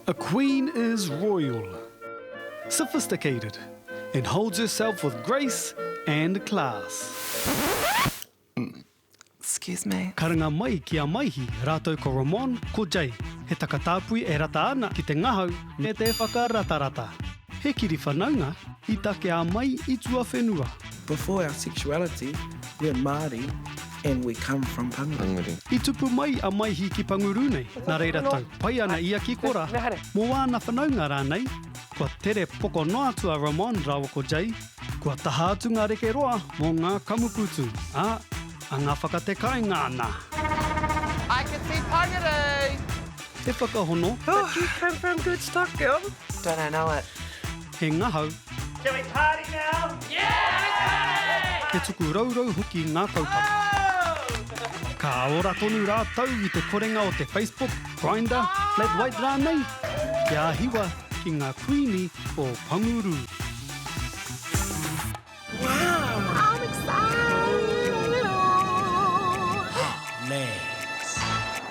A queen is royal, sophisticated and holds herself with grace and class. Excuse me. Karanga mai ki a Maihi rātou ko Ramon, ko Jay, he takatāpui e rata ana ki te ngahau me te whakaratarata. He kiri whanaunga i takea mai i tuawhenua. Before our sexuality, we're Māori and we come from Panguru. I tupu mai a Maihi ki Panguru nei, nā reira tau pai ana ia ki Kora mō āna whanaunga rānei, kua tere poko noa atu a Ramon rāua ko Jay, kua taha atu ngā reke roa mō ngā kamupūtu, ā, anga whakatekainga ana. I can see Panguru! He whakahono. But you come from good stock, girl. Don't I know it! He ngahau. Shall we party now? Yeah! He tuku rourou hoki ngā kaupapa. Oh! Ka ora tonu rātou i te korenga o te Facebook, Grindr, Flat White rānei? Kia hiwa ki ngā Kuini o Panguru!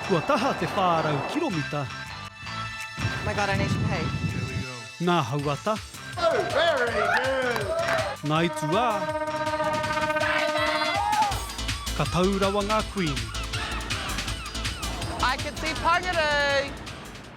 Kua taha te 400 kiromita. Ngā hauata. Ngā itu ā. Ka tau rawa ngā kuini.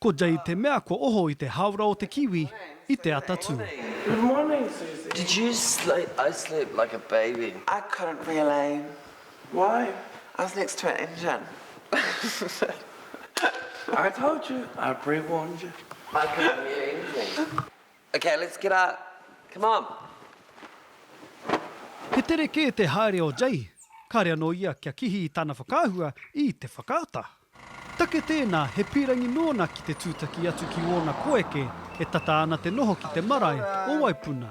Ko Jade te mea kua oho i te hāora o te kiwi i te atatū. He tere kē te haere o Jade, kāre anō ia kia kihi i tana whakaahua i te whakaata. Take tēnā, he pīrangi nōna ki te tūtaki atu ki ōna koeke e tata ana te noho ki te marae o Waipuna.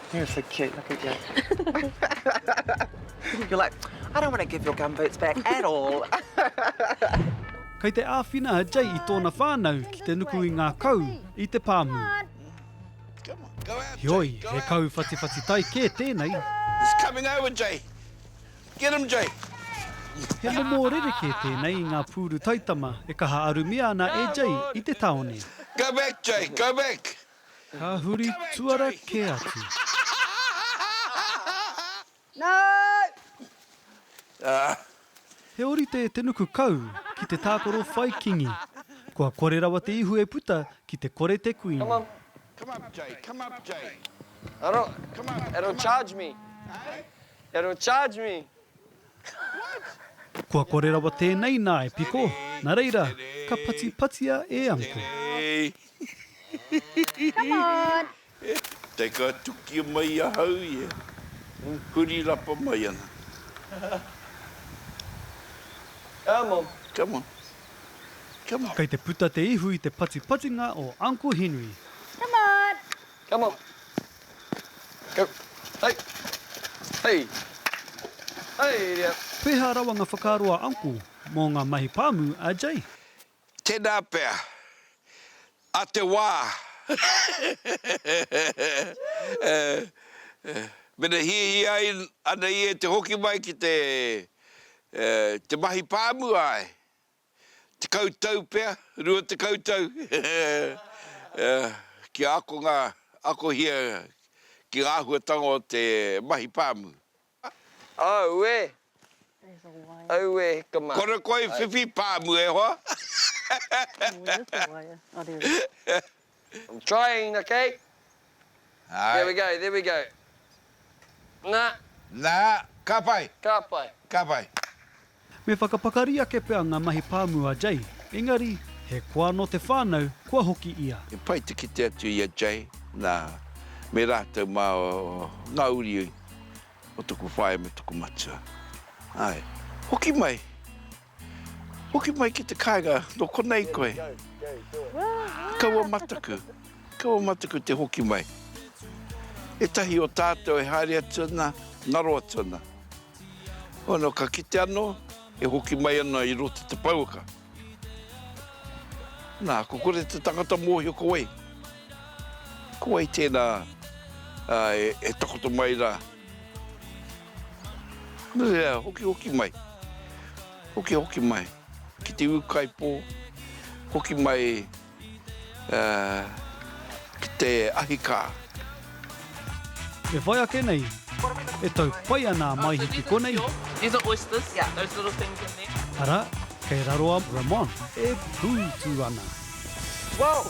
You're so cute, look at you. You're like, I don't want to give your gum boots back at all. Kei te āwhina a Jay i tōna whānau ki te nuku i ngā kau i te pāmu. Hioi, he kau whatiwhati tai kē tēnei. It's coming over, Jay. Get him, Jay. He momo rerekē tēnei i ngā pūru taitama e kaha arumia ana e Jay i te tāone. Go back, Jay, go back. Ka huri tuara kē atu. Nāu! He orite te nuku kau ki te tākaro whai kingi. Kua kore rawa te ihu e puta ki te kore te kuini. It'll charge me. It'll charge me. Kua kore rawa tēnei nā e piko, nā reira, ka patipatia e Uncle. Come on! Te ka tukia mai ahau ia, huri rapa mai ana. Come on! Come on! Come on! Kei te puta te ihu i te patipatinga o Uncle Henry. Come on! Come on. Go. Hei. Hei. Hei ria. Pēhā rawa ngā whakaaro a Uncle mō ngā mahi pāmu a Jay? Tēnā pea. A te wā. Mena hiahia ana ia te hoki mai ki te mahi pāmu, āe. Tekau tau pea, rua tekau tau, kia akonga, akohia ki ngā āhuatanga o te mahi pāmu. Auē! Auē hikama! Kore koe whiwhi pāmu e hoa! I'm trying, okay? Hai. There we go, there we go. Na. Na, ka pai. Ka pai. Ka pai. Me whakapakari ake pea ngā mahi pāmu a Jay, engari, he koa nō te whānau kua hoki ia. He pai te kite atu i a Jay, nā, me rātou mā ngā uri o tōku whaea me tōku matua. Āe, hoki mai. Hoki mai ki te kainga no konei koe. Kaua mataku, kaua mataku te hoki mai. Etahi o tatou e haere atu ana, ngaro atu ana. Ono ka kite ano, e hoki mai ana i roto te pouaka. Na, ko kore te tangata mohio ko wei. Ko wei tena e takoto mai ra. Nui e hokihoki mai, hokihoki mai ki te ūkaipō, hoki mai ki te ahikā. E whai ake nei, e tau pai ana a Maihi ki konei. These are oysters, those little things in there. Arā, kei raro a Ramon e pūtu ana. Whoa!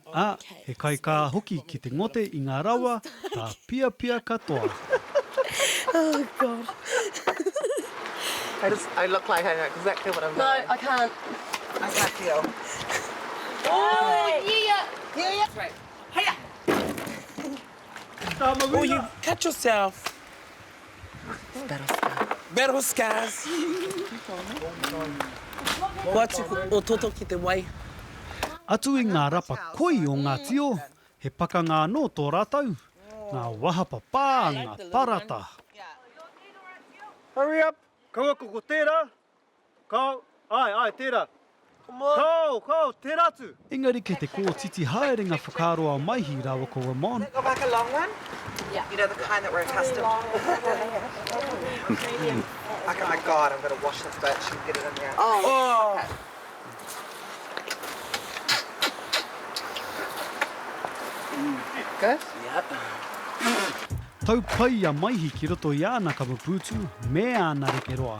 ā, he kaikā hoki ki te ngote i ngā rawa tāpiapia katoa. Battle scars. Kua atu o toto ki te wai. Atu i ngā rapa koi o ngā tio, he pakanga anō tō rātou, ngā wahapa pā, ngā parata. Hurry up! Kaua ko ko tērā, Kāo, āe, āe, tērā. Kāo, kāo, tērā atu! Engari kei te kōtiti haere ngā whakaaro a Maihi rāua ko Ramon. Tau pai a Maihi ki roto i āna kamupūtu me āna reke roa.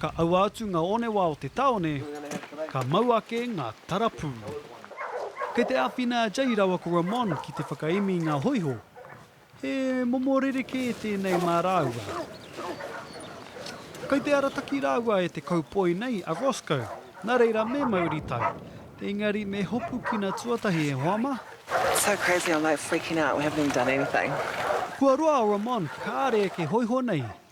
Ka aua atu ngā onewa o te tāone, ka mau ake ngā tarapū. Kei te āwhina a Jay rāua ko Ramon ki te whakaemi i ngā hōiho. He momo rerekē tēnei mā rāua. Kei te arataki rāua e te kaupoi nei a Roscoe, nā reira me mauri tau. Engari me hopukina tuatahi e hoa mā. It's so crazy, I'm like freaking out, we haven't even done anything. Kua roa a Ramon kāre eke hōiho nei,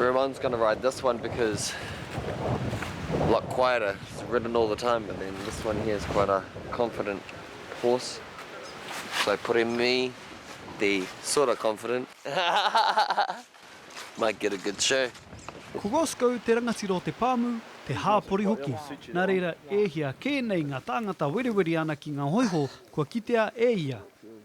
Everyone's gonna ride this one because a lot quieter, it's ridden all the time, but then this one here is quite a confident horse. So pure me te sort of confident. Might get a good show. Ko Rosco te rangatira o te pāmu, te hāpori hoki, nā reira e hia kē nei ngā tāngata werewere ana ki ngā hōiho kua kitea e ia.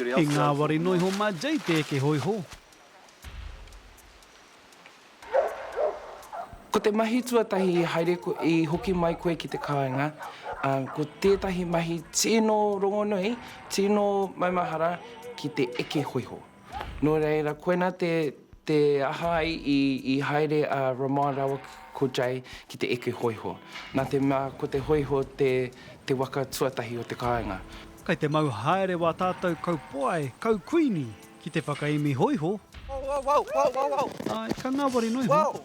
I ngāwari noa iho mā Jay te eke hōiho. Ko te mahi tuatahi i haere i hoki mai koe ki te kāinga, ko tētahi mahi tino rongonui, tino maumahara ki te eke hōiho. Nō reira, koinā te te aha ai i, i haere a Ramon rāua ko Jay ki te eke hōiho. Nā te mea ko te hōiho te, te waka tuatahi o te kāinga. Kei te mau haere wā tātou kaupoae, kaukuini ki te whakaemi hōiho. Āe, ka ngāwari noa iho.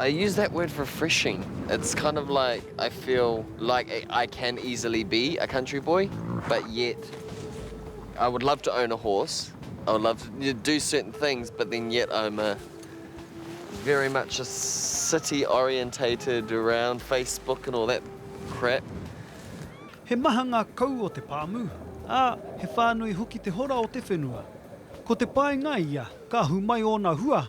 I use that word refreshing. It's kind of like I feel like I can easily be a country boy, but yet I would love to own a horse. I would love to do certain things, but then yet I'm a very much a city orientated around Facebook and all that crap. He maha ngā kau o te pāmu, ā, he whānui hoki te hora o te whenua. Ko te pae ngai ia, ka ahu mai ōna hua,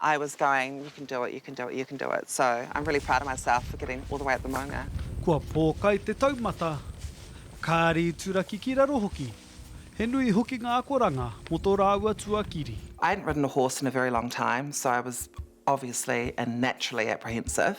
I was going you can do it, you can do it, you can do it so I'm really proud of myself for getting all the way up the maunga. Kua pōkai te taumata, kāri i turaki ki raro hoki. He nui hoki ngā akoranga mō tō rāua tuakiri. I hadn't ridden a horse in a very long time so I was obviously and naturally apprehensive.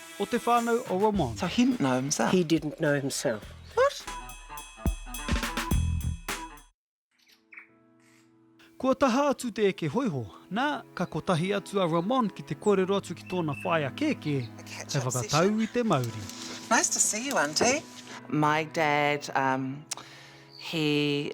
o te whānau o Ramon. So he didn't know himself. He didn't know himself. What? Kua taha atu te eke hoiho, nā, ka kotahi atu a Ramon ki te kōrero atu ki tōna whaea kēkē, hei whakatau i te mauri. Nice to see you, Auntie. My dad, um, he.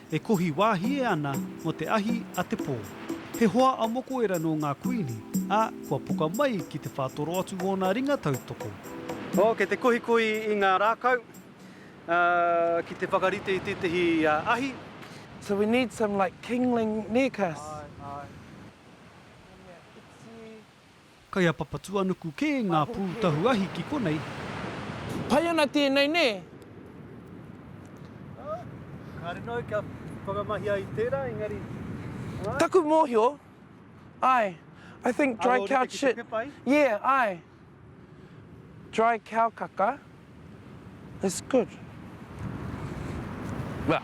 E kohi wāhie ana mō te ahi a te pō. He hoa a Mokoera nō ngā Kuini, ā, kua poka mai ki te whātoro atu ōna ringa tautoko. Oh, kei te kohikohi i ngā rākau, ā, ki te whakarite i tētehi ahi. So we need some like kingling necas. Ae, ae. He mea iti. Kai a Papatuanuku kē ngā pū tahu ahi ki konei. Pai ana tēnei, nē? Kāre noa kia whakamahia i tērā, engari, ā? Taku mōhio, āe, I think dry cow shit, yeah, āe, dry cow kaka. It's good. Nā,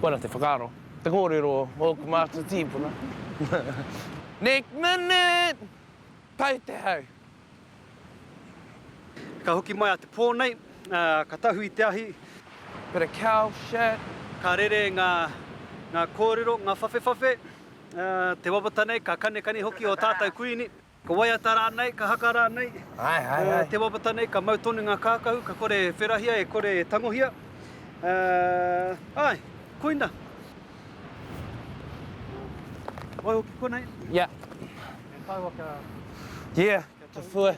koina te whakaaro, te kōrero o ōku mātua tīpuna. Next minute! Pai te hau! Ka hoki mai a Te Pō nei, ka tahu i te ahi. Bit of cow shit. Ka rere ngā kōrero, ngā whawhewhawhe, te wawata nei, ka kanekane hoki ō tātou Kuini. Ka waiata rānei, ka haka rānei, te wawata nei ka mau tonu ngā kākahu, ka kore e wherahia, e kore e tangohia. Āe, koina. Waihoki konei. Ia. E tāua kia... Ia, kia whue.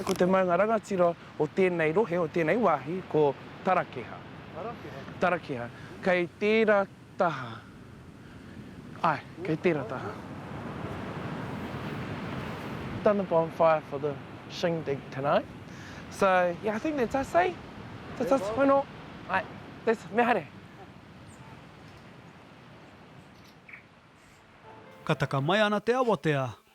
Ko te maunga rangatira o tēnei rohe, o tēnei wāhi, ko Tarakeha. Tarakeha. Tarakeha. Kei tērā Taha. Ae, kei tera taha. Done the bonfire for the shindig tonight. So, yeah, I think that's us, eh? That's us whano. Ae, that's, me haere. Ka taka mai ana te awatea,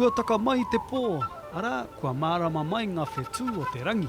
Kua taka mai te pō, arā, kua mārama mai ngā whetū o te rangi.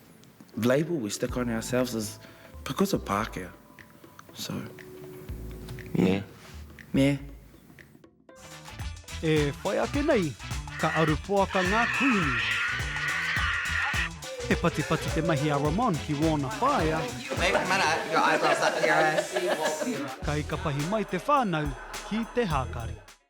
label we stick on ourselves is because of Pākehā. So, yeah. Meh. E whai ake nei, ka aru poaka ngā kuini. He patipati te mahi a Ramon ki wōna whaea. Kai ka pahi mai te whānau ki te hākari.